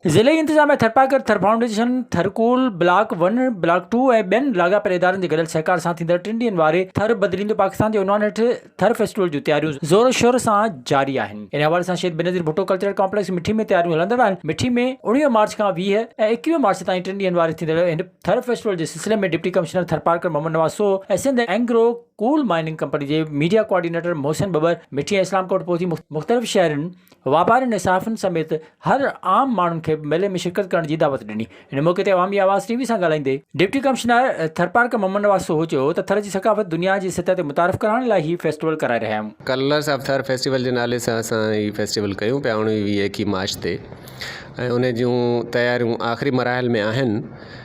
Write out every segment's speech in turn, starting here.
ضلعي انتظاميا Tharparkar Thar foundation Thar coal block one block two ۽ ٻين لاڳاپيل ادارن جي گڏيل سهڪار سان ٿيندڙ ٽن ڏينهن واري ٿر بدليندو پاڪستان جي عنوان هيٺ ٿر فيسٽيول جون تياريون زور شور سان جاري آهن انهي حوالي سان شهيد بينظير ڀٽو ڪلچرل ڪامپليڪس مٺي ۾ تياريون هلندڙ آهن مٺي ۾ اوڻيهه مارچ کان ويهه ۽ ايڪويهه مارچ تائين ٽن ڏينهن واري ٿيندڙ هن ٿر فيسٽيول جي سلسلي ۾ deputy commissioner Tharparkar Muhammad Nawaz Sohu ۽ Sindh Engro coal mining company جي ميڊيا ڪوآرڊينيٽر محسن ٻٻر مٺيء اسلام ڪوٽ پهچي مختلف شهرين، واپارين ۽ صحافين سميت هر عام ماڻهن کي ميلي ۾ شرڪت ڪرڻ جي دعوت ڏني. ان موقعي تي عوامي آواز ٽي وي سان ڳالهائيندي ڊپٽي ڪمشنر ٿرپارڪر محمد نواز سوهو چيو ته ٿر جي ثقافت دنيا جي سطح تي متعارف ڪرائڻ لاء هي فيسٽيول ڪرائي رهيا آهيون. ڪلرس آف ٿر فيسٽيول جي نالي سان اسان هي فيسٽيول ڪيون پيا اوڻويهه ايڪيهه مارچ تي ۽ ان جون تياريون آخري مراحل ۾ آهن.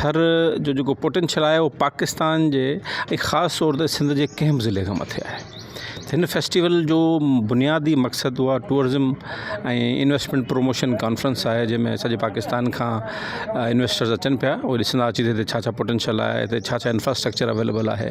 ٿر جو جيڪو پوٽينشل آهي اهو پاڪستان جي ۽ خاص طور تي سنڌ جي ڪنهن بھ ضلعي کان مٿي آهي ھن فيسٽيول جو بنيادي مقصد اها ٽوئرزم ۽ انويسٽمينٽ پروموشن ڪانفرنس آهي جنهن ۾ سڄي پاڪستان کان انويسٽرز اچن پيا اهو ڏسندا اچي ھتي ڇا ڇا پوٽينشل آهي ھتي ڇا ڇا انفراسٽرڪچر اويليبل آهي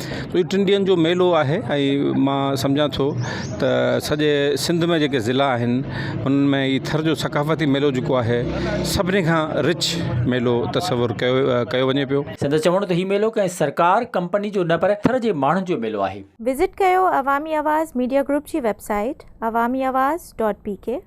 هي ٽن ڏينهن جو ميلو آهي ۽ مان سمجهان ٿو ته سڄي سنڌ ۾ جيڪي ضلعا آهن ان ۾ هي ٿر جو ثقافتي ميلو جيڪو آهي سڀني کان رچ ميلو تصور ڪيو ڪيو وڃي پيو. سندس چوڻ هو ته هي ميلو ڪنهن سرڪار، ڪمپني جو نه پر ٿر جي ماڻهن جو ميلو آهي. وزٽ ڪيو عوامي آواز ميڊيا گروپ جي web site Awami Awaz dot بي ڪي.